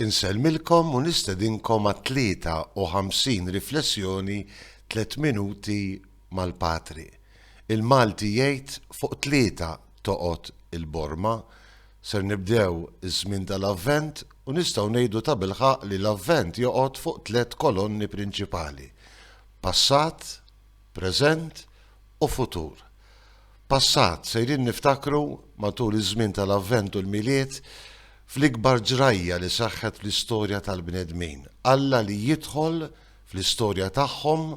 Insellmilkom u nistedinkom għat-53 Riflessjoni Tliet Minuti mal-Patri. Il-Malti jgħid fuq tlieta toqgħod il-borma. Ser nibdew iż-żmien tal-Avvent u nistgħu ngħidu tabilħaqq li l-Avvent joqgħod fuq tliet kolonni prinċipali, passat, preżent u futur. Passat, sejrin niftakru, matul iż-żmien tal-Avvent u l-Milied, fl-ikbar ġrajja li seħħet fl-istorja tal-bnedmin, Alla li jidħol fl-istorja tagħhom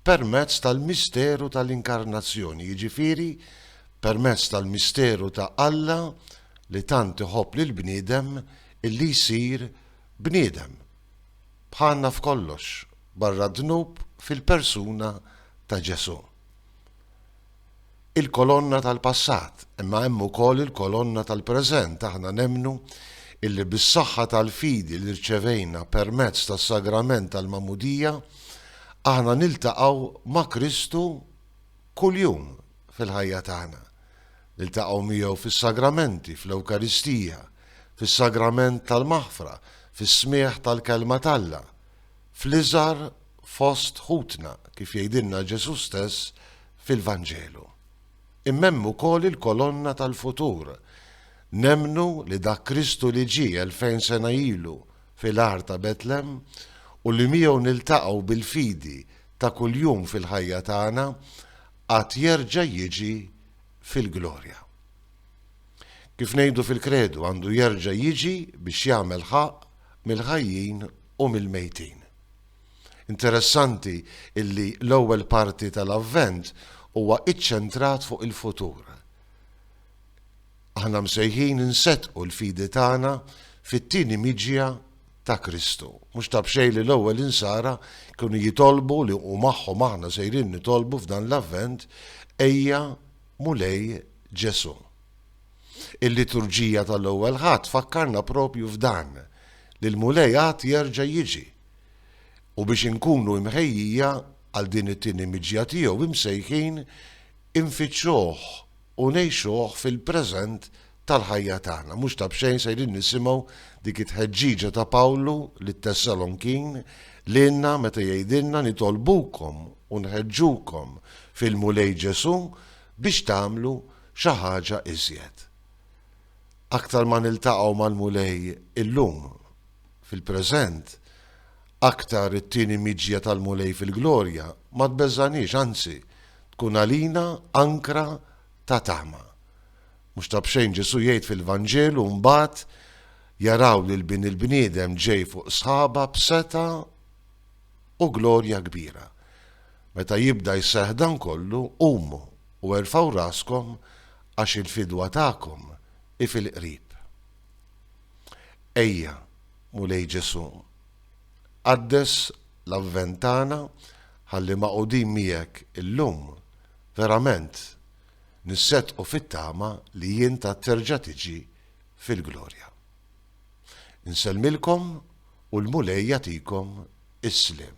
permezz tal-misteru tal-Inkarnazzjoni, jiġifieri permezz tal-misteru ta' Alla li tant iħobb lill-bniedem illi jsir bniedem, bħalna f'kollox, barra d-dnub fil-persuna ta' Ġesù. il-kolonna tal-passat, imma hemm ukoll il-kolonna tal-preżent, aħna nemmnu illi bis-saħħa tal-fidi li rċevejna permezz tas-sagrament tal-Magħmudija, aħna niltaqgħu ma' Kristu kuljum fil-ħajja tagħna. Niltaqgħu miegħu fis-sagramenti, fl-Ewkaristija, fis-sagrament tal-maħfra, fis-smigħ tal-Kelma t'Alla, fl-iżgħar fost ħutna, kif jgħidilna Ġesù stess fil-Vanġelu. Imma hemm ukoll il-kolonna tal-futur. Nemmnu li dak Kristu li ġie elfejn sena ilu fil-għar ta' Betlem u li miegħu niltaqgħu bil-fidi ta' kuljum fil-ħajja tagħna għad jerġa' jiġi fil-glorja. Kif ngħidu fil-Kredu għandu jerġa' jiġi biex jagħmel ħaqq mill-ħajjin u mill-mejtin. Interessanti illi l-ewwel parti tal-Avvent huwa iċċentrat fuq il-futur. Aħna msejħin insettqu l-fidi tagħna fit-tieni miġja ta' Kristu. Mhux ta' b'xejn li l-ewwel insara kienu jitolbu li u magħhom aħna sejrin nitolbu f'dan l-Avvent ejja Mulej Ġesu. Il-liturġija tal-Ewwel Ħadd tfakkarna propju f'dan, li l-Mulej għad jerġa' jiġi. U biex inkunu imħejjija għal din it-tieni miġja tiegħu imsejħin infittxuh u ngħixuh fil-preżent tal-ħajja tagħna. Mhux ta' b'xejn sejrin nisimgħu dik it-tħeġġiġa ta' Pawlu lit-Tessalonkin lilna meta jgħidilna nitolbukom u nħeġġukom fil-Mulej Ġesù biex tagħmlu Xi ħaġa iżjed. Aktar ma niltaqgħu mal-Mulej illum, fil-preżent, aktar it-tieni miġja tal-Mulej fil-glorja ma tbeżgħaniex, anzi, tkun għalina ankra ta' tama. Mhux ta' b'xejn Ġesù jgħid fil-Vanġelu mbagħad jaraw lil Bin il-bniedem ġej fuq sħaba b'setgħa u glorja kbira. Meta jibda jseħħ dan kollu, qumu u erfgħu raskom għax il-fidwa tagħkom hi fil-qrib. Ejja, Mulej Ġesù, qaddes l-Avvent tagħna ħalli magħqudin miegħek illum verament nisseddqu fit-tama li int għad terġa' tiġi fil-glorja. Insellmilkom u l-Mulej jagħtikom is-sliem.